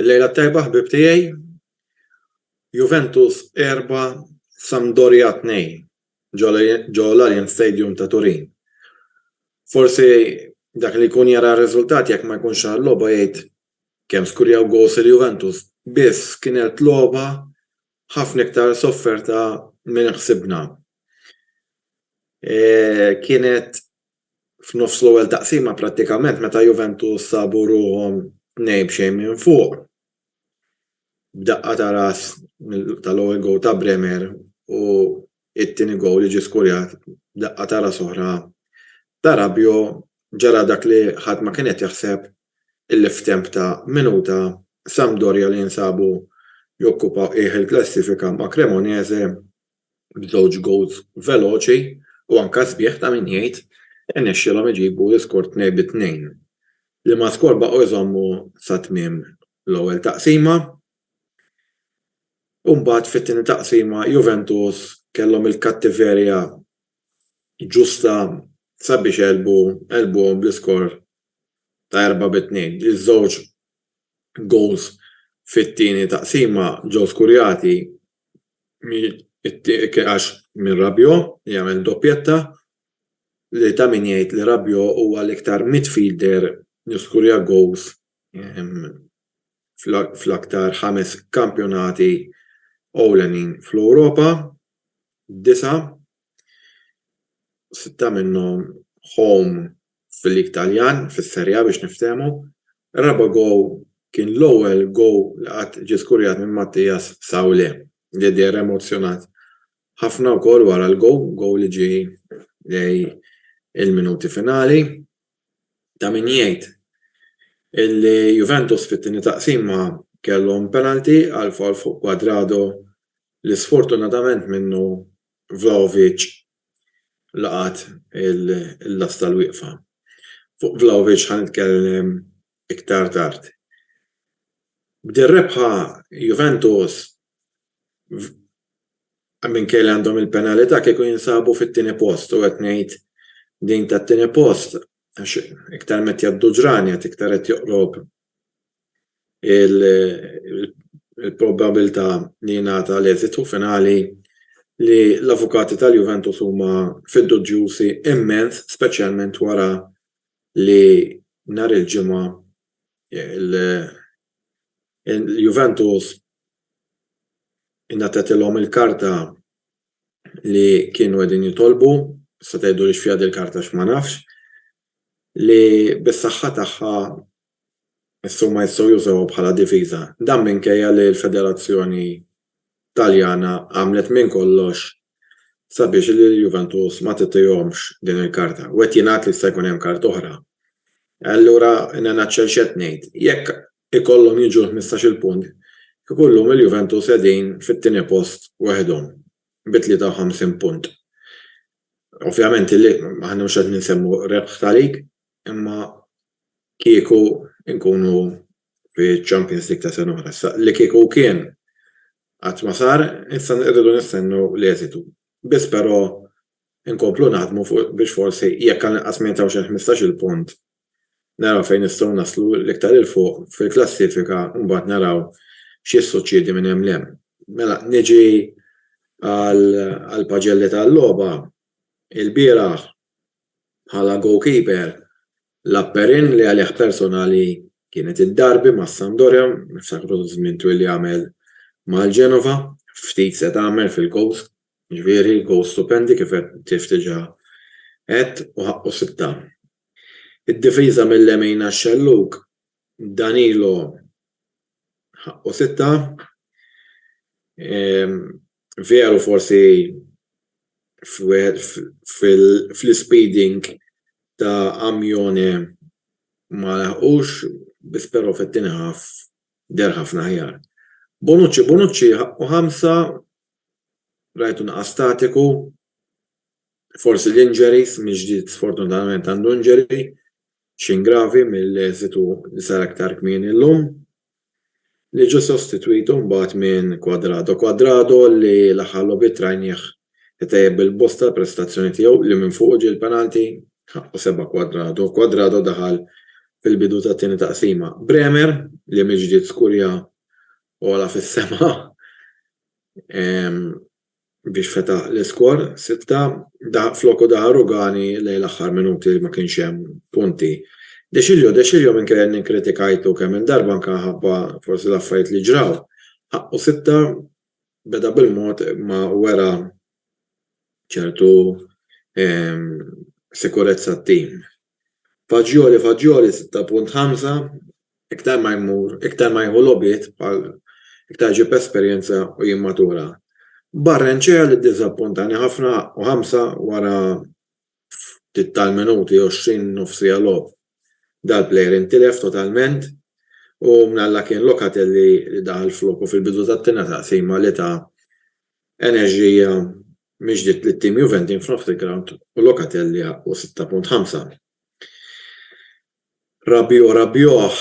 Il-lejla t-tajba ħbieb tiegħi. Juventus 4, Sampdoria 2 ġo l-Allianz Stadium ta' Turin. Forsi dak li jkun jara r-riżultat jekk ma jkunx ra l-logħba jgħid kemm skurjaw goals il-Juventus. Biss kienet logħba ħafna iktar sofferta minn ħsibna. Kienet f'nofs l-ewwel taqsima prattikament meta Juventus sabu ruħhom tnejn b'xejn minn fuq b'daqqa ta' ras tal-ewwel gowl ta' Bremer u t-tieni gowl li ġie skurjat b'daqqa ta' ras oħra ta' Rabiot ġara dak li ħadd ma kien qed jaħseb illi f'temp ta' minuta Sampdoria li jinsabu jokkupaw qiegħ il-klassifika ma' Cremonese b'żewġ gowls veloċi u anke sbieħ ta' min jgħid, irnexxielhom iġibu l-iskor tnejn bi tnejn. L-Imazkor baqgħu jżommu sa tmiem l-ewwel taqsima u mbagħad fit-tieni taqsima Juventus kellhom il-kattiverja ġusta sabiex għelbu għelbuhom bl-iskor ta' erbgħa bi tnejn. Iż-żewġ gowls fit-tieni taqsima ġew skurjati It-tieni għax minn Rabiot li għamel doppjetta li ta' min jgħid li Rabiot huwa l-iktar midfielder li skurja goals fl-aktar ħames kampjonati ewlenin fl-Ewropa, disa', sitta minnhom home fil-lig Taljan, fis-Serie A biex niftehmu, ir-raba' goal kien l-ewwel goal li qatt ġie skurjat minn Mattias Saulé li deher emozzjonat ħafna wkoll wara l-goal, goal li ġie lejn il-minuti finali. Ta' min jgħid illi Juventus fit-tieni taqsima kellhom penalty għal foul fuq Cuadrado li sfortunatament minnu Vlahovic laqgħat il-lasta l-wieqfa. Fuq Vlahovic ħa nitkellem iktar tard. B'din rebħa Juventus minkejja li għandhom il-penalità kieku jinsabu fit-tieni post u qed ngħid din tat-tieni post għax iktar ma qed jgħaddu ġranet iktar qed joqrob il-probabilità li jingħata l-eżitu finali li l-avukati tal-Juventus huma fiduġjużi immens speċjalment wara li nhar il-Ġimgħa l-Juventus ingħatatilhom il-karta li kienu qegħdin jitolbu, tista' tgħiduli x'fiha dil-karta għax ma nafx, li bis-saħħa tagħha jistgħu ma jistgħu jużawha bħala diviża. Dan minkejja li l-Federazzjoni Taljana għamlet minn kollox sabiex lill-Juventus ma titihomx din il-karta. U qed jingħad li jista' jkun hemm karta oħra. Allura in a nutshell x'qed ngħid? Jekk ikollhom jiġu l-ħmistax-il punt, kieku llum il-Juventus qegħdin fit-tieni post waħedhom bi 53 punt. Ovvjament li aħna mhux qed ninsemmu rebħ ta' league, imma kieku nkunu fiċ-Champions League ta' sena oħra. Issa li kieku kien qatt ma sar, issa rridu nistennew l-eżitu. Biss però nkomplu naħdmu fuq biex forsi jekk anqas ma jintgħawx il-ħmistax-il punt naraw fejn nistgħu naslu l-iktar 'il fuq fil-klassifika u mbagħad naraw x'jissuċċiedi minn hemm 'l hemm. Mela niġi għall-paġelli tal-logħba. Ilbieraħ bħala goalkeeper lagħab Perin li għalih personali kienet id-darbi mas-Sampdoria, niftakru żmien twil li għamel mal-Genova, ftit se tagħmel fil-goals, ġifieri goals stupendi kif qed kif diġà għedt u ħaqqu sitta. Id-difiża mil-lemin għax-xellug Danilo ħaqqu sitta. Veru forsi fl-ispeeding ta' Amione ma laħqux, biss però fit-tieni half deher ħafna aħjar. Bonucci ħaqqu ħamsa, rajtu naqas statiku. Forsi l-injuries, minn ġdid sfortunatament għandu injury, xejn gravi mill-eżitu li sar aktar kmieni llum, li ġie sostitwitu mbagħad minn Cuadrado. Cuadrado li l-aħħar logħbiet rajnieh itejjeb bil-bosta l-prestazzjoni tiegħu li minn fuqu ġie l-penalty, ħaqqu sebha Cuadrado. Cuadrado daħal fil-bidu tat-tieni taqsima. Bremer li mill-ġdid skurja ogħla fis-sema, biex fetaħ l-iskor, 6, floku daħal Rugani lejn l-aħħar minuti ma kienx hemm punti. Deschilio, Deschilio minkejja li nkritikajtu kemm il darba anke ħabba forsi l-affarijiet li ġraw, ħaqqu sitta beda bil-mod imma wera ċertu sikurezza t-tim. Fagioli Fagioli 6.5 Iktar ma jmur, iktar ma jieħu logħbiet bħal iktar iġib esperjenza u jimmatura. Barrenechea li ddiżappuntani ħafna u 5 wara ftit tal-minuti, 20 nofsiegħa logħob. Dal-plejer intilef totalment u mnalla kien Locatelli li daħal floku fil-bidu tat-tieni taqsima li ta enerġija Mhix ġdiet li t-tim Juventin f'nofs il-grawnd u Locatelli haqqu 6.5. Rabiot Rabiot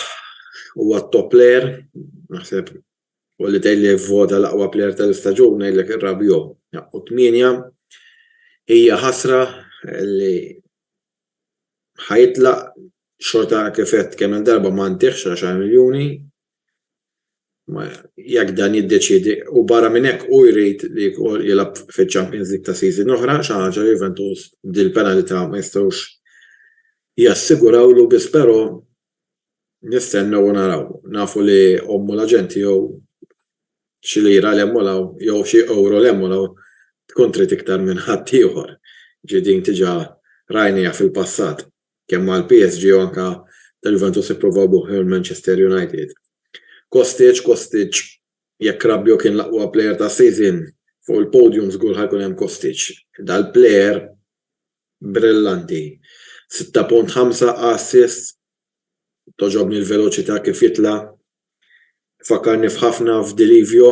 huwa t-top player, naħseb u li tgħidli vvota l-aqwa player tal-istaġun ngħidlek ir-Rabiot haqqu 8. Hija ħasra li ħa jitlaq xorta kif għedt kemm-il darba ma ntihx 10 miljuni jekk dan jiddeċiedi u barra minn hekk hu jrid li wkoll jilgħab fiċ-Champions League ta' season oħra, xi ħaġa li Juventus b'dil penalità ma jistgħux jassigurawlu biss però nistennew u naraw. Nafu li ommu l-aġent tiegħu xi lira 'l hemm u 'l hawn jew xi ewro 'l hemm u 'l hawn tkun trid iktar minn ħaddieħor. Ġifieri din diġà rajniha fil-passat. Kemm mal-PSG u anke ta' Juventus ippruvaw b'ruħhom Manchester United. Kostic, Kostic, jekk Rabiot kien l-aqwa plejer tas-season, fuq il-podium żgur ħa jkun hemm Kostic. Dal-plejer brillanti. Sitta punt ħamsa assists, togħġobni l-veloċità kif jitla', fakkarni f'ħafna f'Di Livio,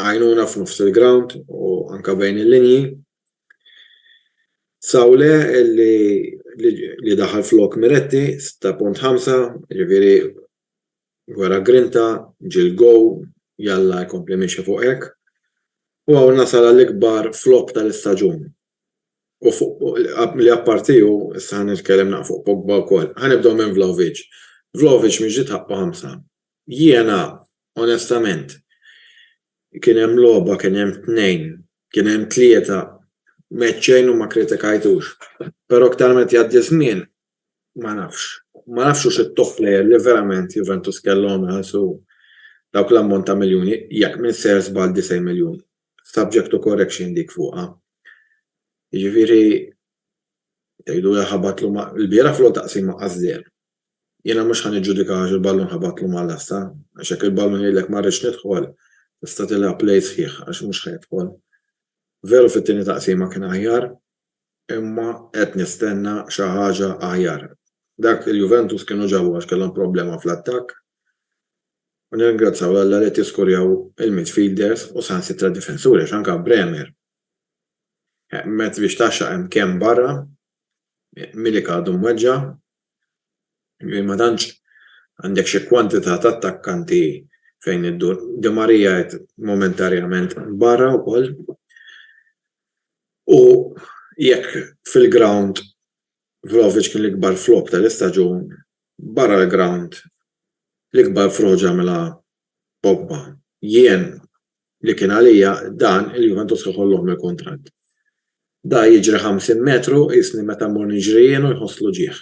għajnuna f'nofs il-grawnd u anke bejn il-linji. Sawle li, li daħal flok Miretti 6.5, ġifieri wera grinta, ġiel gow, jalla jkompli miexi fuq hekk. U hawn nasal għall-ikbar flop tal-istaġun. U fuq li apparti hu, issa ħa nitkellem naqra fuq Pogba wkoll. Ħa nibdew minn Vlahovic. Vlahovic mhix ġiet ħaqqu ħamsa. Jiena, onestament, kien hemm logħba, kien hemm tnejn, kien hemm tlieta, m'għedt xejn u ma kkritikajtux. Però aktar meta jgħaddi ż-żmien, ma nafx. Ma nafx hux it-top player li verament Juventus kellhom iħallsu dawk l-ammont ta' miljuni, jekk minser żball 90 miljun. Subject to correction dik fuqha. Jiġifieri, tgħidu li ħabatlu ma', ilbieraħ fl-ewwel taqsima qas żied. Jiena mhux ħa niġġudika għax il-ballun ħabatlu mal-lasta, għax jekk il-ballun jgħidlek ma rridx nidħol, tista' tilgħab play sħiħ għax mhux ħa jidħol. Veru fit-tieni taqsima kien aħjar, imma qed nistenna xi ħaġa aħjar. Dak il-Juventus kienu ġabu għax kellhom problema fl-attakk u nirringrazzjaw 'l Alla li qed jiskurjaw il-midfielders u saħansitra d-difensuri għax anke Bremer mezz biex tgħaxxaq hemm kemm barra, Milik għadu mweġġa' Jien ma tantx għandek xi kwantità ta' attakkanti fejn iddur. Di Maria qed momentarjament barra wkoll u jekk fil-grawnd Vlahovic kien l-ikbar flop tal-istaġun, barra l-grawnd l-ikbar frodi għamilha Pogba. Jien li kien għalija dan li Juventus ħolohom il-kuntratt. Da jiġri 50 metru qisni meta mmur niġri jien u jħoss l-uġigħ.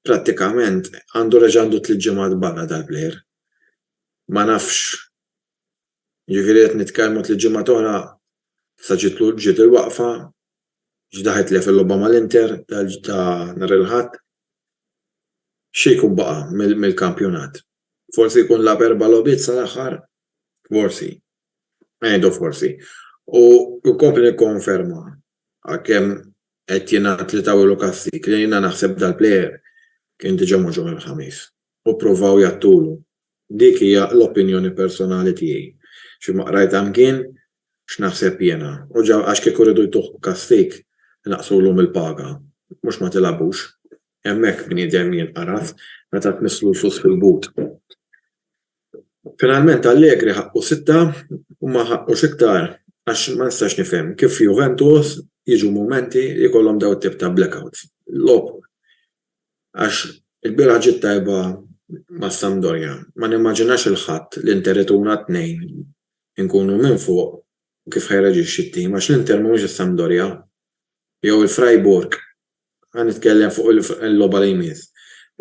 Prattikament għandu reġa' għandu tliet ġimgħat barra dal-plejer. Ma nafx jiġifieri qed nitkellmu tliet ġimgħat oħra sa ġiet il-waqfa, X'daħħal tilef il-logħba mal-Inter ta' nhar il-Ħadd. Xi jkun baqa' mill-kampjonat? Forsi jkun lagħab erba' logħbiet sal-aħħar? Forsi. Ngħidu forsi. U nkompli nikkonferma għalkemm qed jingħad li tawilu kastig li jiena naħseb dal-plejer kien diġà mhux nhar il-Ħamis u ppruvaw jgħattulu. Dik hija l-opinjoni personali tiegħi. Xi ma qrajtha mkien x'naħseb jiena. U ġa għax kieku riedu jtuh b'kastig, inaqqsulhom il-paga. Mhux ma tilgħabux. Hemmhekk bniedem jinqaras meta tmiss lusus fil-but. Finalment Allegri ħaqqu sitta u ma ħaqqux iktar għax ma nistax nifhem kif f'Juventus jiġu mumenti li jkollhom dawn it-tip ta' blackouts. Logħob għax ilbieraħ ġiet tajba mas-Sampdoria. Ma nimmaġinax il-Ħadd li Inter ituna tnejn inkunu minn fuq kif ħajreaġixxi t-tim għax l-Inter mhumiex is-Sampdoria jew il-Freiburg. Ħa nitkellem fuq il-logħba li jmiss.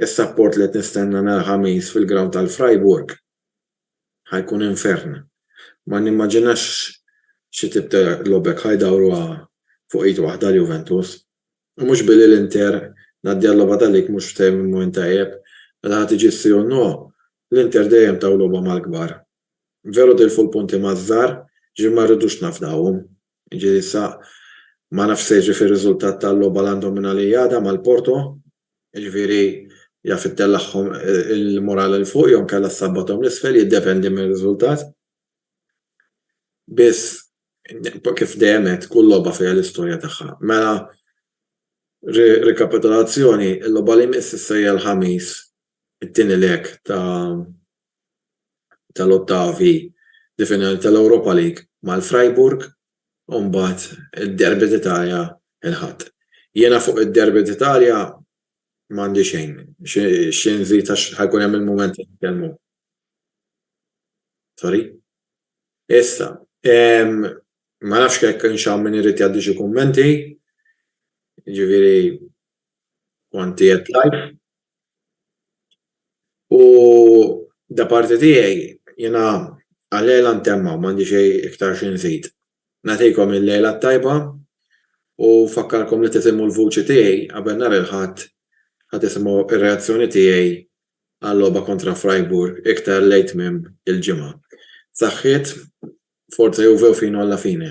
Is-sapport li qed nistenna nhar il-Ħamis fil-grawnd tal-Freiburg ħa jkun infern. Ma nimmaġinax xi tip ta' logħba jekk ħa jdawruha fuq id waħda għal Juventus. U mhux billi l-Inter ngħaddi għal-logħba ta' lig mhux f'mument tajjeb. Meta ħa tiġi s-Sirun No, l-Inter dejjem taw logħba mal-kbar. Veru tilfu l-punti maż-żgħar, jiġifieri ma rridux nafdawhom. Jiġifieri issa ma nafx se jiġri fir-riżultat tal-logħba l-għandhom minn għalija għada mal-Porto, jiġifieri jaf ittellaħhom il-moral 'il fuq jew inkella ssabbathom 'l isfel, jiddependi mir-riżultat. Biss, kif dejjem għedt, kull logħba fiha l-istorja tagħha. Mela, rikapitolazzjoni, il-logħba li jmiss issa hija l-Ħamis, it-tieni leg ta' tal-ottavi di finali tal-Europa League mal-Freiburg u mbagħad id-Derby d'Italia l-Ħadd. Jiena fuq id-Derby d'Italia m'għandi xejn xi nżid għax ħa jkun hemm il-mument li nitkellmu. Sorry. Issa, ma nafx jekk kienx hawn min irid jgħaddi xi kummenti, jiġifieri kont qiegħed live. U da parti tiegħi jiena għal-lejla ntemm hawn m'għandi xejn iktar xi nżid. Nagħtikom il-lejla t-tajba u nfakkarkom li tisimgħu l-vuċi tiegħi qabel nhar il-Ħadd ħa tisimgħu r-reazzjoni tiegħi għal-logħba kontra Freiburg iktar lejn tmiem il-ġimgħa. Saħħiet, Forza Juve u Fino alla fine.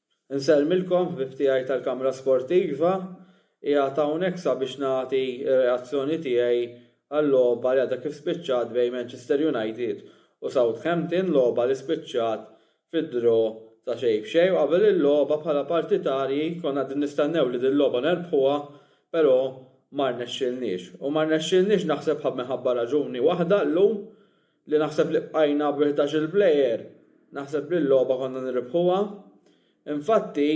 Insellmilkom ħbieb tiegħi tal-Kamra Sportiva, qiegħed hawnhekk sabiex nagħti r-reazzjoni tiegħi għal-logħba li għadha kif spiċċat bejn Manchester United u Southampton, logħba li spiċċat fid-draw ta' xejn b'xejn u qabel il-logħba bħala partitarji konna qegħdin nistennew li dil-logħba nerbħuha pero' ma rnexxielniex u ma rnexxielniex naħseb minħabba raġuni waħda llum li naħseb li bqajna b' ħdax-il plejer naħseb li l-logħba konna nirrbħuha. Infatti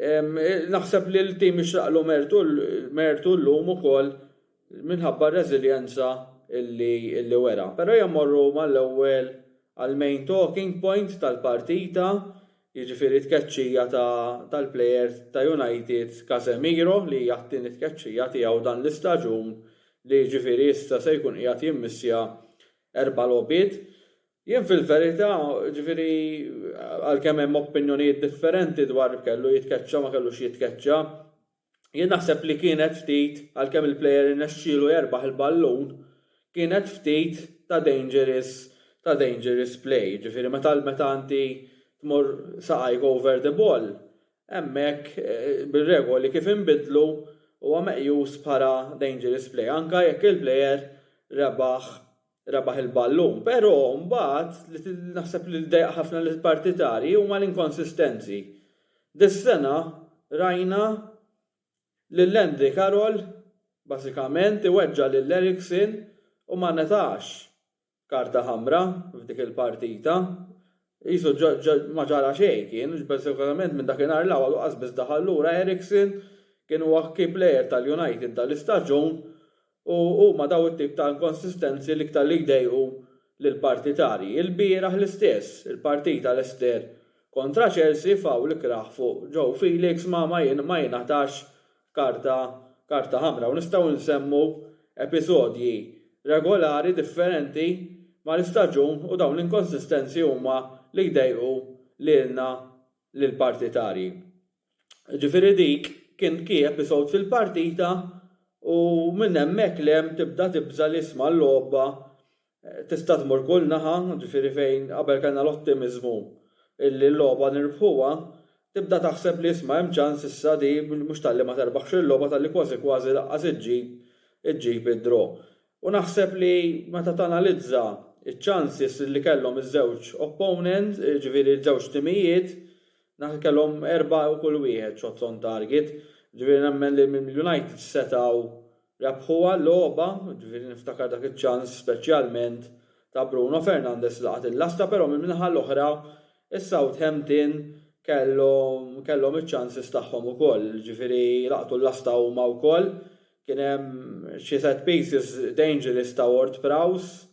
naħseb li l-tim jixraqlu mertu llum ukoll minħabba r-reżiljenza li wera. Però jemmorru mal-ewwel għall-main talking point tal-partita jiġifieri t-tkeċċija tal-plejer ta' United Casemiro li hija t-tieni tkeċċija tiegħu dan l-istaġun li jiġifieri issa se jkun qiegħed jimmissja erba' logħbiet. Jien fil-verità jiġifieri għalkemm hemm opinjonijiet differenti dwar kellu jitkeċċa ma kellux jitkeċċa, Jien naħseb li kienet ftit, għalkemm il-player irnexxielu jerbaħ il-ballun, kienet ftit ta' dangerous ta' dangerous play. Jiġifieri meta meta inti tmur saqajk over the ball, hemmhekk bir-regoli kif inbidlu huwa meqjus bħala dangerous play anke jekk il-player rebaħ rebaħ il-ballun, pero' mbagħad li naħseb li dejjaq ħafna lill-partitarji huma l-inkonsistenzi. Dis-sena rajna lil Andy Carroll bażikament iweġġa' lil Eriksen u ma ngħatax karta ħamra f'dik il-partita. Qisu ma ġara xejn kien, speċifikament minn dakinhar 'l hawn qas biss daħal lura Eriksen, kien huwa key player tal-United dan l-istaġun u huma dawn it-tip ta' inkonsistenzi l-iktar li jdejqu lill-partitarji. Ilbieraħ l-istess, il-partita Leicester kontra Chelsea fawl ikrah fuq Joe Felix ma jingħatax karta karta ħamra u nistgħu nsemmu episodji regolari differenti mal-istaġun u dawn l-inkonsistenzi huma li jdejqu lilna lill-partitarji. Ġifieri dik kien kien episode fil-partita u minn hemmhekk 'l hemm tibda tibża' li isma' l-logħba Tista' tmur kull naħa, ġifieri fejn qabel kellna l-ottimiżmu illi l-logħba nirbħuha, tibda taħseb li isma' hemm ċans issa li mhux talli ma terbaħx il-logħba talli kważi kważi lanqas iġġib iġġib id-draw. U naħseb li meta tanalizza ċ-chances li kellhom iż-żewġ opponent, ġifieri ż-żewġ timijiet, naħseb kellhom erbgħa kull wieħed shots on target, ġifieri nemmen li l-United setgħu Rebħuha l-logħba, jiġifieri niftakar dak iċ-ċans speċjalment ta' Bruno Fernandes li laqat il-lasta però mill-naħa l-oħra is-Southampton kellhom kellhom iċ-ċanses tagħhom ukoll, jiġifieri laqtu l-lasta huma wkoll. Kien hemm xi set pieces dangerous ta' Ward-Prowse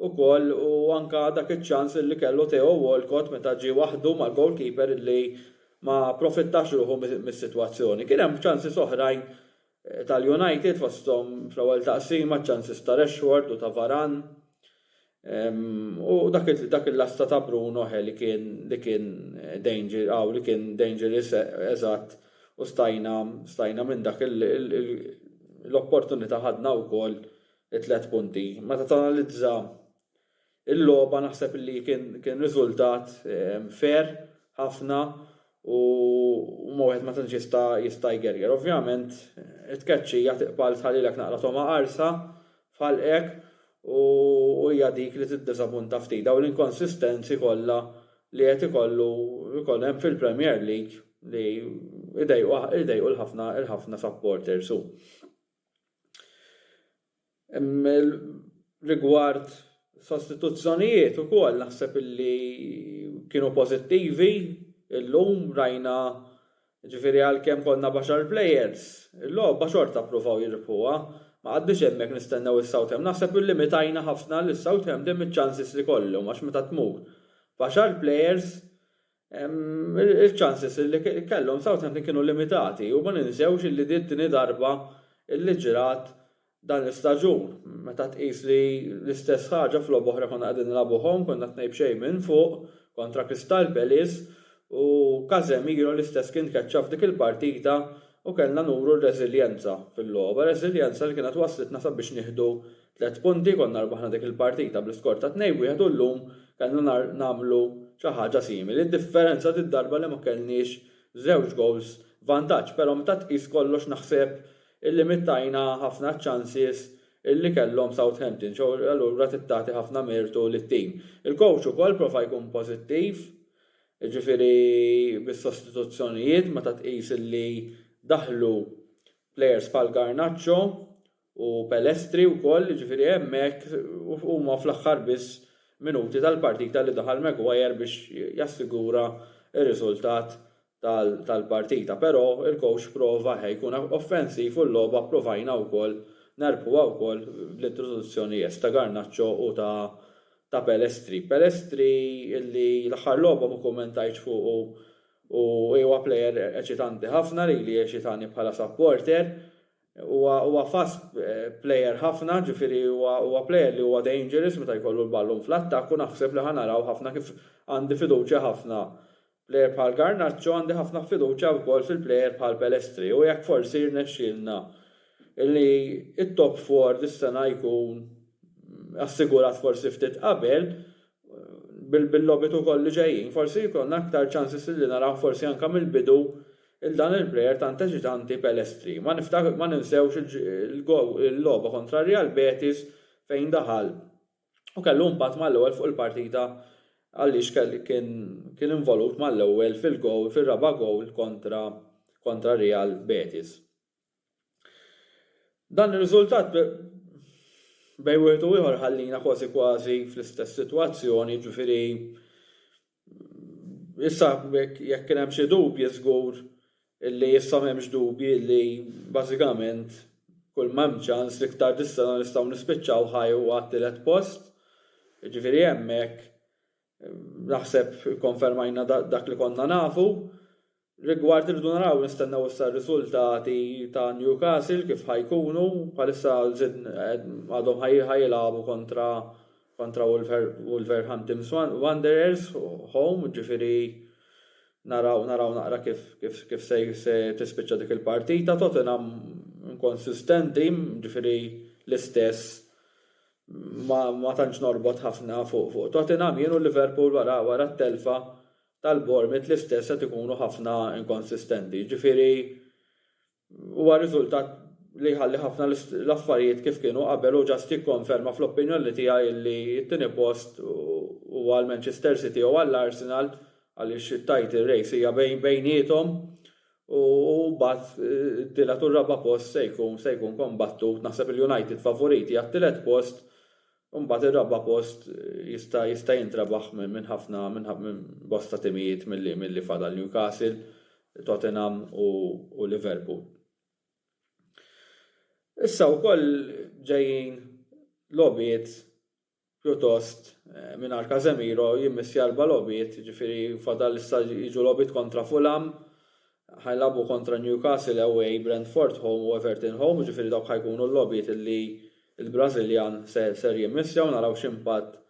ukoll u anke dak iċ-ċans li kellu Theo Walcott meta ġie waħdu mal-goalkeeper li ma approfittax ruħu mis-sitwazzjoni. Kien hemm ċanses oħrajn tal-United fosthom fl-ewwel taqsima ċ-ċanses ta' Rashford u ta' Varane u dak il-lasta ta' Bruno he li kien li kien danger aw li kien dangerous eżatt u stajna stajna minn dak l-opportunità ħadna wkoll it-tliet punti. Meta tanalizza Il-logħba naħseb li kien kien riżultat fair ħafna u ma wieħed ma tantx jista' jista' jgerger. Ovvjament it-tkeċċija tiqbal tħallilek naqra togħma qarsa f'ħalqek u hija dik li tiddiżapunta ftit. Dawn l-inkonsistenzi kollha li qed ikollu jkun hemm fil-Premier League li jdejqu jdejqu l-ħafna l-ħafna supporters u Rigward sostituzzjonijiet ukoll naħseb illi kienu pożittivi, illum rajna ġifieri għalkemm konna b'għaxar players, il-logħba xorta ppruvaw jirbħuha, ma qgħadniex hemmhekk nistennew is-Southampton, naħseb illimitajna ħafna lis-Southampton miċ-chances li kollhom għax meta tmur b'għaxar players il-chances li kellhom Southampton kienu limitati u ma ninsewx illi din it-tieni darba illi ġrat dan l-istaġun meta tqis li l-istess ħaġa f'logħba oħra konna qegħdin nilagħbu home konna tnejn b'xejn minn fuq kontra Crystal Palace u Casemiro l-istess kien tkeċċa f'dik il-partita u kellna nuru r-reżiljenza fil-logħba, reżiljenza li kienet wasslitna sabiex nieħdu Tliet punti, konna rbaħna dik il-partita bl-iskor ta' 2-1 u llum kellna nagħmlu xi ħaġa simili. Id-differenza did-darba li ma kellniex żewġ gowls vantaġġ però meta tqis kollox naħseb illimittajna ħafna ċ-chances illi kellhom Southampton xi allura trid tagħti ħafna mertu lit-tim. Il-coach ukoll prova jkun pożittiv, jiġifieri bis-sostituzzjonijiet meta tqis illi daħlu players bħal Garnacho u Pelestri wkoll, jiġifieri hemmhekk huma fl-aħħar biss minuti tal-partita li daħal Maguire biex jassigura r-riżultat tal-partita. Però il-coach prova ħa jkun offensiv u l-logħba provajna wkoll nerbħuha wkoll bl-introduzzjoni yes ta' Garnacho u ta' Pelestri. Pelestri li l-aħħar logħba ma kummentajtx fuqu u huwa player eċitanti ħafna, lili jeċitani bħala supporter, Huwa fast player ħafna, ġifieri huwa player li huwa dangerous meta jkollu l-ballun fl-attakk u naħseb li ħa naraw ħafna kif għandi fiduċja ħafna player bħal Garnacho għandi ħafna fiduċja wkoll fil-player bħal Pelestri u jekk forsi jirnexxielna li t-top four dis-sena jkun assigurat forsi ftit qabel bil-logħbiet ukoll li ġejjin forsi jkollna aktar chances li naraw forsi anke mill-bidu 'l dan il-player tant eċitanti Pelestri. Ma ninsewx il-logħba kontra Real Betis fejn daħal u kellu impatt mal-ewwel fuq il-partita għaliex kien involut mal-ewwel fil-gowl fir-raba' gowl kontra Real Betis. Dan ir-riżultat bejn wieħed u ieħor ħallina kważi kważi fl-istess sitwazzjoni, jiġifieri issa jekk kien hemm xi dubji żgur li issa m'hemmx dubji li bażikament kull ma hemm ċans l-iktar dis-sena nistgħu nispiċċaw ħaj u għat-tielet post, jiġifieri hemmhekk Naħseb ikkonfermajna dak li konna nafu. Rigward irridu naraw nistennew issa r-riżultati ta' Newcastle kif ħa jkunu, bħalissa għadhom ħa jilagħbu kontra kontra Wolverhampton Wanderers home, jiġifieri naraw naraw naqra kif kif se se tispiċċa dik il-partita. Tottenham inkonsistenti, jiġifieri l-istess ma tantx norbot ħafna fuq Tottenham jien u Liverpool wara t-telfa tal-Bournemouth l-istess qed ikunu ħafna inkonsistenti. Jiġifieri huwa riżultat li jħalli ħafna l-affarijiet kif kienu qabel u ġast jikkonferma fl-opinjoni tiegħi li t-tieni post huwa għall-Manchester City jew għall-Arsenal għaliex it-title race hija bejniethom U mbagħad it-tielet u r-raba' post se jkun se jkun kombattut. Naħseb li United favoriti għat-tielet post u mbagħad ir-raba' post jista' jista' jintrebaħ minn ħafna minn bosta timijiet milli milli fadal Newcastle, Tottenham u u Liverpool. Issa wkoll ġejjin logħbiet pjuttost mingħajr Casemiro jimmiss l-erba' logħbiet, jiġifieri fadal issa jiġu logħbiet kontra Fulham, ħa jilagħbu kontra Newcastle away, Brentford home u Everton home, jiġifieri dawk ħa jkunu l-logħbiet li l-Brażiljan ser jimmissja u naraw x'impatt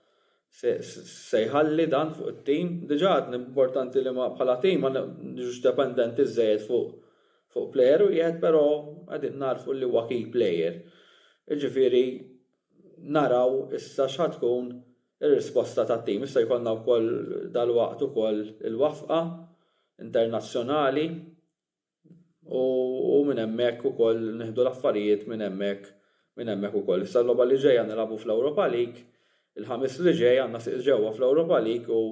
se jħalli dan fuq it-tim. Diġà għadni importanti li bħala tim ma niġux dependenti żżejjed fuq plejer wieħed, però qegħdin nagħrfu li huwa key player. Jiġifieri Naraw issa x'ħa tkun ir-risposta tat-tim. Issa jkollna wkoll dalwaqt ukoll il-wafqa internazzjonali u u minn hemmhekk ukoll nieħdu l-affarijiet minn hemmhekk minn hemmhekk ukoll. Issa l-logħba li ġejja nilagħbu fl-Ewropa League, il-Ħamis li ġej għandna sieq ġewwa fl-Ewropa League u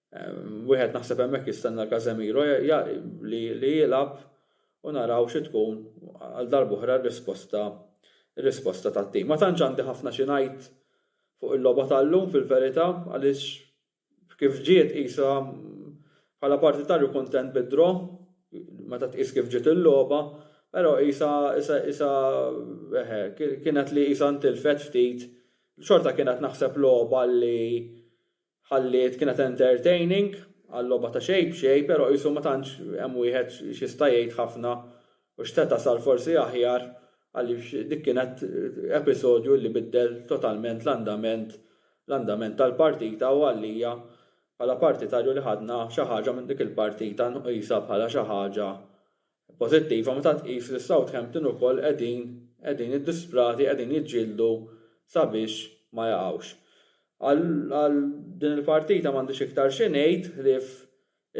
Wieħed naħseb hemmhekk jistenna Casemiro li jilgħab u naraw xi tkun għal darb'oħra r-risposta r-risposta tat-tim. Ma tantx għandi ħafna xi ngħid fuq il-logħba tal-lum fil-verità għaliex kif ġiet qisha bħala partitarju kuntent bid-draw meta tqis kif ġiet il-logħba però qisha qisha eħe kienet li qisha ntilfet ftit xorta kienet naħseb logħba li Ħalliet kienet entertaining għal logħba ta' xejn b'xejn pero qisu ma tantx hemm wieħed x'jista' jgħid ħafna u x'seta' sar forsi aħjar għaliex dik kienet episodju li biddel totalment l-andament l-andament tal-partita u għalija bħala partitarju li ħadna xi ħaġa minn dik il-partita nqisha bħala xi ħaġa pożittiva meta tqis li Southampton ukoll qegħdin qegħdin iddisprati qegħdin jiġġieldu sabiex ma jaqgħux. Għal għal din il-partita m'għandix iktar xi ngħid ħlief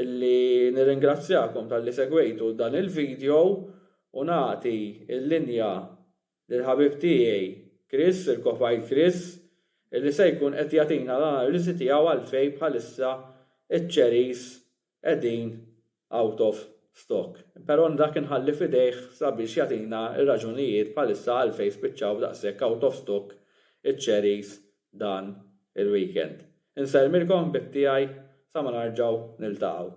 illi nirringrazzjakom talli segwejtu dan il-video u nagħti l-linja lil ħabib tiegħi Chris, il-Kofajl Chris, illi se jkun qed jagħtina l-analiżi tiegħu għalfejn bħalissa ċ-Cherries qegħdin out of stock. Però dak inħalli f'idejh sabiex jagħtina r-raġunijiet bħalissa għalfejn spiċċaw daqshekk out of stock iċ-cherries dan il-weekend. Insellmilkom ħbieb tiegħi sa ma narġgħu niltaqgħu.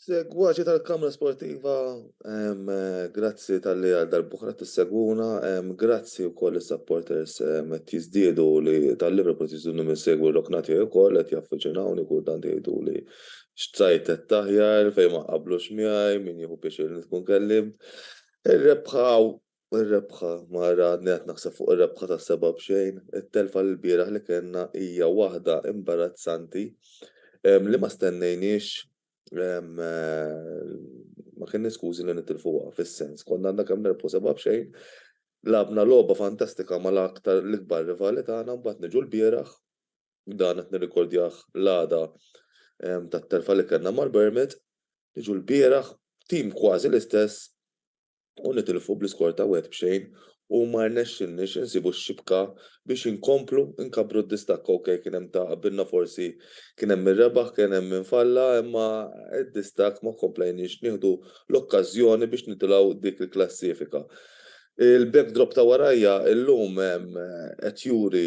Segwaċi tal-Kamra Sportiva, grazzi tal-li għal darbuħra t-segwuna, grazzi u koll il-supporters met jizdiedu li tal-Liverpool jizdiedu minn segwu l-oknati u koll għet jaffiċinawni kull dan jgħidu li xtajt taħjar fej ma qablu xmiħaj minn jħu piex il-nitkun kellim. Il-rebħaw Ir-rebħa, ma għadni qed naħseb fuq ir-rebħa ta' seba' b'xejn, it-telfa l-bieraħ li kellna hija waħda imbarazzanti li ma stennejniex ma kenniex skużi li nitilfuha fis-sens. Konna għandna kemm nerbħu seba' b'xejn, lagħabna logħba fantastika mal-aktar l-ikbar rivali tagħna mbagħad niġu l-bieraħ, dan qed nirrikordjah l-għada tat-telfa li kellna mal-Bournemouth, niġu l-bieraħ, tim kważi l-istess, u nitilfu bl-iskor ta' wieħed b'xejn u ma rnexxilniex insibu x-xibka biex inkomplu nkabbru d-distakk ok kien hemm ta' qabilna forsi kien hemm min rebaħ kien hemm min falla imma d-distakk ma komplejniex nieħdu l-okkażjoni biex nitilgħu dik il-klassifika. Il-backdrop ta' warajja illum qed juri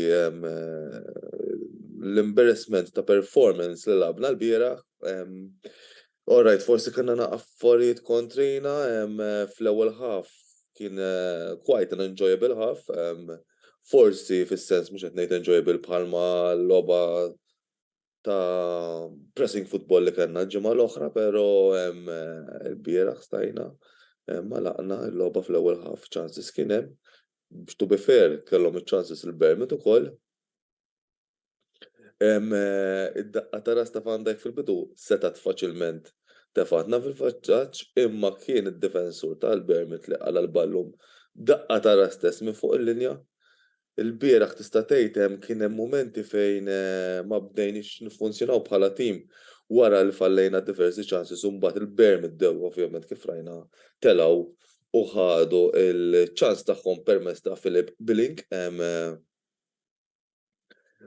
l-embarrassment ta' performance li lagħabna lbieraħ All right, forsi kellna na affarijiet kontrina, fl-ewwel half kien quite an enjoyable half, forsi fis-sens mhux qed ngħid enjoyable bħalma logħba ta' pressing football li kellna l-ġimgħa l-oħra, pero l-bieraħ stajna għalaqna l-logħba fl-ewwel half, chances kien hemm, to be fair kellhom iċ-chances il-Bournemouth ukoll, Id-daqqa ta' ras ta' Van Dijk fil-bidu setgħet faċilment tefgħatna fil-vantaġġ imma kien id-difensur ta' Bournemouth li qala' l-ballun b'daqqa ta' ras stess minn fuq il-linja. Ilbieraħ tista' tgħid hemm kien hemm mumenti fejn ma bdejniex niffunzjonaw bħala tim wara li fallejna diversi chances u mbagħad il-Bournemouth bdew ovvjament kif rajna telgħu u ħadu l-chance tagħhom permezz ta' Philip Billing.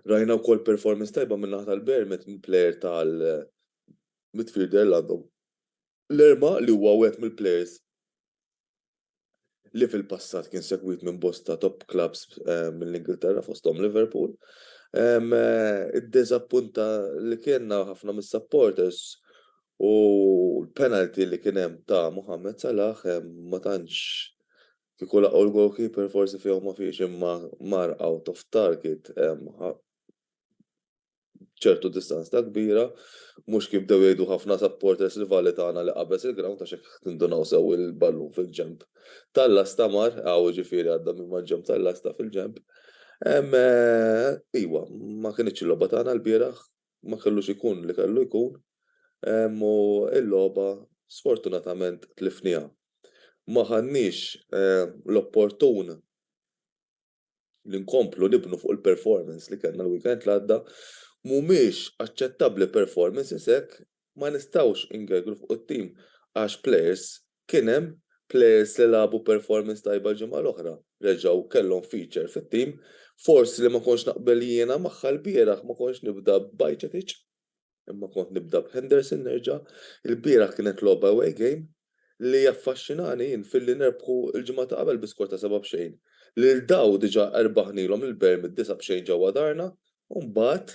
Rajna wkoll performance tajba min-naħa tal-Bern meta l-player tal-midfielder Lando Lerma li huwa wieħed mill-players li fil-passat kien segwit minn bosta top clubs mill-Ingilterra fosthom Liverpool. Id-diżappunta li kellna ħafna mis-supporters u l-penalty li kien hemm ta' Mohamed Salah ma tantx Kieku laqgħu l-goalkeeper forsi fihom ma fiex imma mar out of target b'ċertu distanza kbira. Mhux kif bdew jgħidu ħafna supporters rivali tagħna li qabeż il-ground għax jekk tindunaw sew il-ballun fil-ġenb tal-lasta mar hawn jiġifieri għadda minn mal-ġenb tal-lasta fil-ġenb. Iwa, ma kinitx il-logħba tagħna lbieraħ. ma kellux ikun li kellu jkun u l-logħba sfortunatament tlifniha. Ma ħadniex l-opportun li nkomplu nibnu fuq il-performance li kellna l-weekend l-għadda. Mhumiex aċċettabbli performances hekk ma nistgħux ingergru fuq it-tim għax players kien hemm, players li lagħbu performance tajba l-ġimgħa l-oħra reġgħu kellhom feature fit-tim, forsi li ma kontx naqbel jiena magħha lbieraħ ma kontx nibda b'Bajcetic imma kont nibda b'Henderson nerġa', ilbieraħ kienet logħba away game li jaffaxxinani jien filli nerbħu l-ġimgħa ta' qabel bi skor ta' seba' b'xejn, lil daw diġà erbaħnilhom lil Berm id-disgħa b'xejn ġewwa darna u mbagħad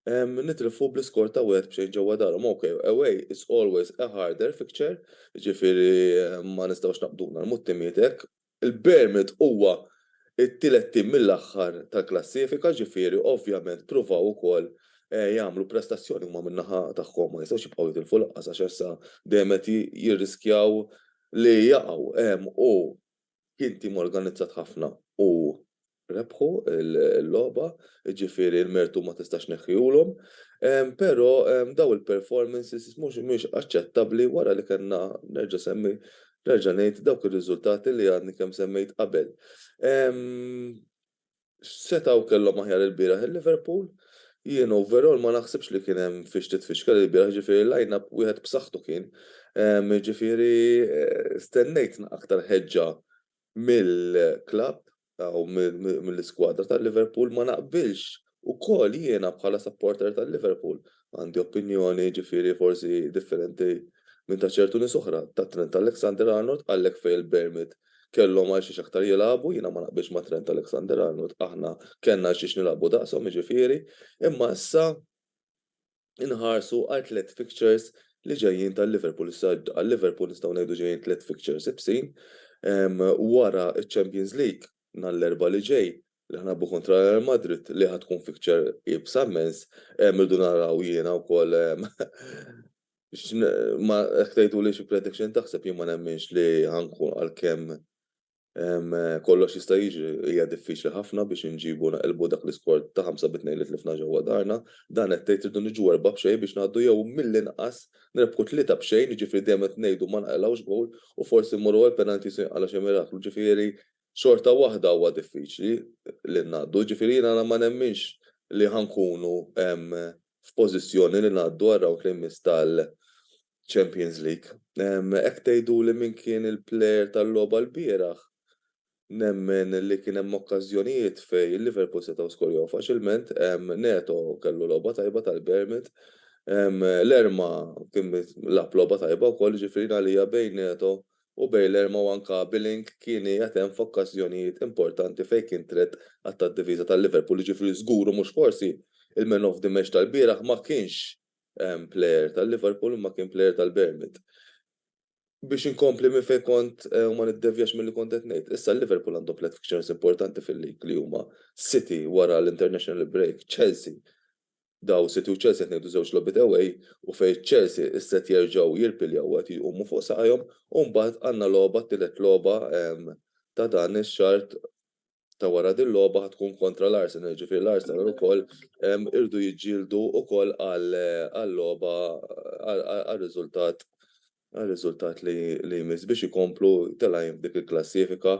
nitilfu bl-iskor ta' wieħed b'xejn ġewwa darhom, ok, away is always a harder fixture, jiġifieri ma nistgħux naqbduna nagħlmu t-timijiet hekk. Il-Bournemouth huwa t-tielet tim mill-aħħar tal-klassifika, jiġifieri ovvjament ppruvaw ukoll jagħmlu prestazzjoni huma min-naħa tagħhom, ma jistgħux jibqgħu jitilfu lanqas għax issa dejjem qed jirriskjaw li jaqgħu. U Kien tim organizzat ħafna u rebħu l-logħba, jiġifieri l-mertu ma tistax tneħħihulhom, però dawn il-performances mhumiex aċċettabbli wara li kellna, nerġa' nsemmi, nerġa' ngħid, dawk ir-riżultati li għadni kemm semmejt qabel. X'setgħu kellhom aħjar ilbieraħ il-Liverpool? Jien overall ma naħsibx li kien hemm fiex titfixkel ilbieraħ, jiġifieri l-line-up wieħed b'saħħtu kien. Jiġifieri stennejt aktar ħeġġa mill-klabb u mill-iskwadra tal-Liverpool. Ma naqbilx ukoll jiena bħala supporter tal-Liverpool, għandi opinjoni jiġifieri forsi differenti minn ta' ċertu nies oħra, ta' Trent Alexander-Arnold, għalhekk fejn il-permit kellhom għal xiex aktar jilagħbu, jiena ma naqbilx ma' Trent Alexander-Arnold, aħna kellna għal xiex nilagħbu daqshom jiġifieri, imma issa inħarsu għal tliet fixtures li ġejjin tal-Liverpool. Issa għal-Liverpool nistgħu ngħidu ġejjin tliet fixtures ibsin, wara ċ-Champions League nhar l-Erbgħa li ġej li ħanilagħbu kontra Real Madrid li ħa tkun fixture iebsa mmens, irridu naraw jiena wkoll ma jekk tgħidu li xi prediction taħseb jien ma nemminx li ħankun għalkemm kollox jista' jiġri hija diffiċli ħafna biex inġibu naqilbu dak l-iskor ta' 5 bit-tnejn li tlifna ġewwa darna, dan qed tgħid irdu niġu erbgħa b'xejn biex ngħaddu jew mill-inqas nirbħu tlieta b'xejn jiġifieri dejjem qed ngħidu ma nqalgħux gowl u forsi mmorru għall-penalties u jinqala' xi miraklu ġifieri xorta waħda huwa diffiċli li ngħaddu, jiġifieri jiena ma nemminx li ħa nkunu f'pożizzjoni li ngħaddu għar-rawnd li jmiss tal-Champions League. Hekk tgħiduli min kien il-plejer tal-logħba lbieraħ, nemmen li kien hemm okkażjonijiet fejn Liverpool setgħu skorjaw faċilment, Neto kellu logħba tajba tal-Bournemouth, Lerma kien lagħab logħba tajba wkoll, jiġifieri jien għalija bejn Neto u Baylor ma wanka Billing kien qiegħed hemm f'okkażjonijiet importanti fejn kien trett għadd tad-difiża ta' Liverpool, jiġifieri żgur u mhux forsi, il-man of the match tal-bieraħ ma kienx plejer ta' Liverpool imma kien plejer tal-Bournemouth. Biex inkompli minn fejn kont u ma niddevjax milli kont qed ngħid, issa Liverpool għandhom tliet fixtures importanti fil-league li huma City wara l-international break, Chelsea daw City u Chelsea qed ngħidu żewġ logħbiet away u fejn Chelsea isset jerġgħu jirpiljaw u qed jqumu fuq saqajhom u mbagħad għandna logħba t-tielet logħba ta' dan ix-xahar ta' wara din logħba ħa tkun kontra l-Arsenal jiġifieri l-Arsenal ukoll irdu jiġġieldu ukoll għal logħba għal riżultat għar-riżultat li jmiss biex ikomplu telgħin f'dik il-klassifika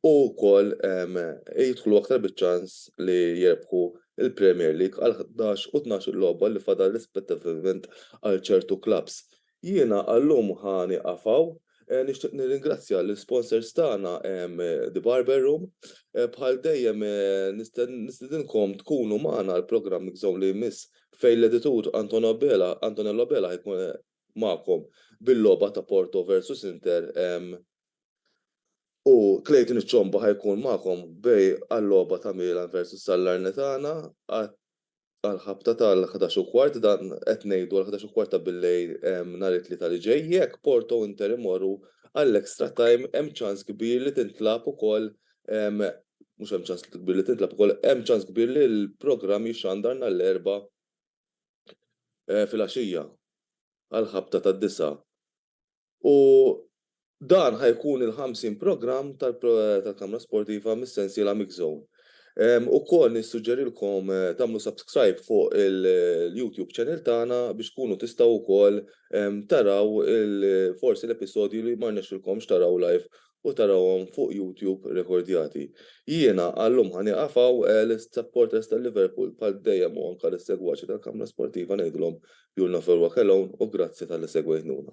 u wkoll jidħlu aktar biċ-ċans li jirbħu l-Premier League għal ħdax u tnax-il logħba li fadal rispettivament għal ċertu klabbs. Jiena għal-lum ħa nieqaf hawn. Nixtieq nirringrazzja lill-sponsors tagħna The Barber Room. Bħal dejjem nistedinkom tkunu magħna għall-programm Mixzone li jmiss fejn l-editur Antonello Abela ħa jkun magħkom bil-logħba ta' Porto versus Inter u Clayton iċ-Ċomba ħa jkun magħkom bej għal-logħba ta' Milan versus Sallarnitana għall-ħabta tal-ħdax u kwart dan qed ngħidu għall-ħdax u kwart ta' billejl nhar it-Tlieta li ġej. Jekk Porto u Inter imorru għall-extra time hemm ċans kbir li tintlagħab ukoll mhux hemm ċans kbir li tintlagħab ukoll hemm ċans kbir li l-programm jixxandar nhar l-Erbgħa filgħaxija għall-ħabta tad-disgħa u dan ħa jkun il-50 programm tal-Kamra Sportiva mis-sensiela Mix Zone. Ukoll nissuġġerilkom tagħmlu subscribe fuq il-YouTube channel tagħna biex tkunu tistgħu wkoll taraw forsi l-episodji li ma rnexxilkomx taraw live u tarawhom fuq YouTube rekordjati. Jiena għal-lum ħa nieqaf hawn, lis-supporters tal-Liverpool bħal dejjem u anke lis-segwaċi tal-Kamra Sportiva ngħidilhom you'll never walk alone u grazzi talli segwejtnuna.